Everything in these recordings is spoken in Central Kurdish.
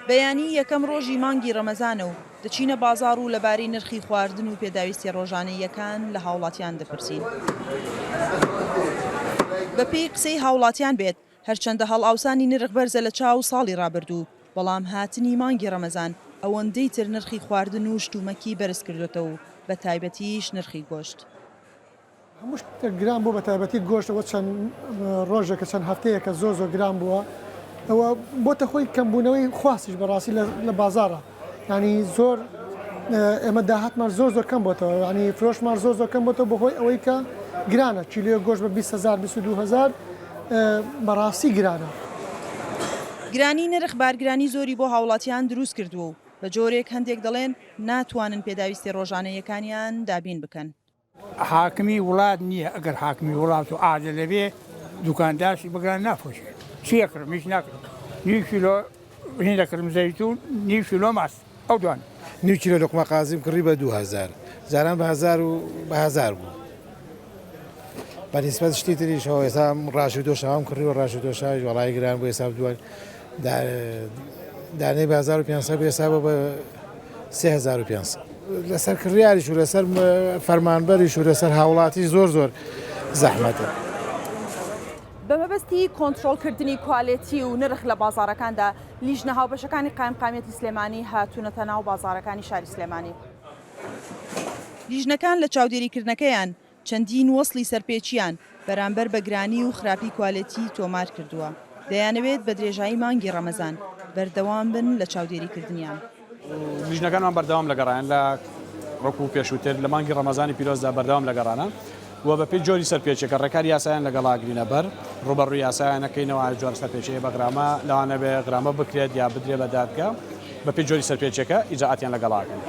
بەیانی یەکەم ڕۆژی مانگی ڕەمەزانە و دەچینە بازاڕ و لەبارەی نرخی خواردن و پێداویستیە ڕۆژانەییەکان لە هاوڵاتیان دەپرسین. بەپێی قسەی هاوڵاتیان بێت، هەرچەندە هەڵئاوسانی نرخ بەرزە لە چاو ساڵی ڕابردوو، بەڵام هاتنی مانگی ڕەمەزان ئەوەندەی تر نرخی خواردن و شتومەکی بەرزکردۆتەوە و بەتایبەتیش نرخی گۆشت. هەموو شتێک گران بوو بەتایبەتی گۆشت ئەوە چەند ڕۆژێکە چەند هەفتەیەکە زۆر زۆر گران بووە ئەوە بۆتە خۆی کەمبوونەوەی خواستیش بەڕاستی لە بازارە ینی زۆر ئێمە داهاتمان زۆر زۆر کەم بۆتەوە ینی فرۆشمان زۆر زۆر کەم بۆتەوە بەهۆی ئەوەی کە گرانە کیلوێ گۆشت بە 20هزار 22هزار بەڕاستی گرانە. گرانی نرخ بارگرانی زۆری بۆ هاوڵاتیان دروست کردووە و بە جۆرێک هەندێک دەڵێن ناتوانن پێداویستی ڕۆژانە یەکانیان دابین بکەن. حاکمی وڵات نیە ئەگەر حاکمی وڵات و عادلە بێ دوکان داشی بگران نافرۆشێ چیە کڕم هیچ ناکرم نیو کیلۆ هین دەکرم زەیتون نیو کیلۆ ماست ئەو دوان نیو کیلۆ لوقمە قازیم کڕی بە دوو هەزار جاران بە هەزار و بە هەزار بوو بە نیسبەت شتی تریش هەوە ئێستا ڕاژی دۆشاوم کڕی و ڕاژی دۆشاوی وەڵای گران بوو ئێستا دوای دانەی بازار و پێنج سەد بێ حسابە بە سێ هەزار و پێنج سەد. لەسەر کڕیاریش و لەسەر فەرمانبەریش و لەسەر هاوڵاتی زۆر زۆر زەحمەتە. بەمەبەستی کۆنترۆڵکردنی کوالێتی و نرخ لە بازاڕەکاندا، لیژنە هاوبەشەکانی قایمقامیەتی سلێمانی هاتوونەتە ناو بازاڕەکانی شاری سلێمانی. لیژنەکان لە چاودێریکردنەکەیان چەندین وەسڵی سەرپێچییان بەرامبەر بە گرانی و خراپی کوالێتی تۆمار کردووە، دەیانەوێت بە درێژایی مانگی ڕەمەزان بەردەوام بن لە چاودێریکردنیان. لیژنەکانمان بەردەوام لە گەڕان لە وەکو پێشووتر لە مانگی ڕەمەزانی پیرۆزدا بەردەوام لە گەڕانە و بەپێی جۆری سەرپێچییەکە ڕێکاری یاساییان لەگەڵ ئاگرینە بەر، ڕووبەڕووی یاسایان ئەکەینەوە، ئایا جۆرە سەرپێچییەکە بە غرامە، لەوانەبێت غرامە بکرێت یا بدرێت بە دادگا، بەپێی جۆری سەرپێچییەکە ئیجرائاتیان لەگەڵ ئەکەین.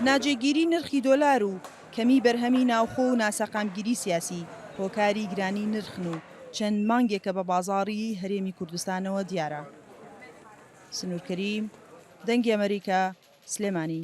ناجێگیری نرخی دۆلار و کەمی بەرهەمی ناوخۆ و ناسەقامگیری سیاسی هۆکاری گرانی نرخن و چەند مانگێکە بە بازاڕی هەرێمی کوردستانەوە دیارە. سنوور کەریم، دەنگی ئەمەریکا، سلێمانی.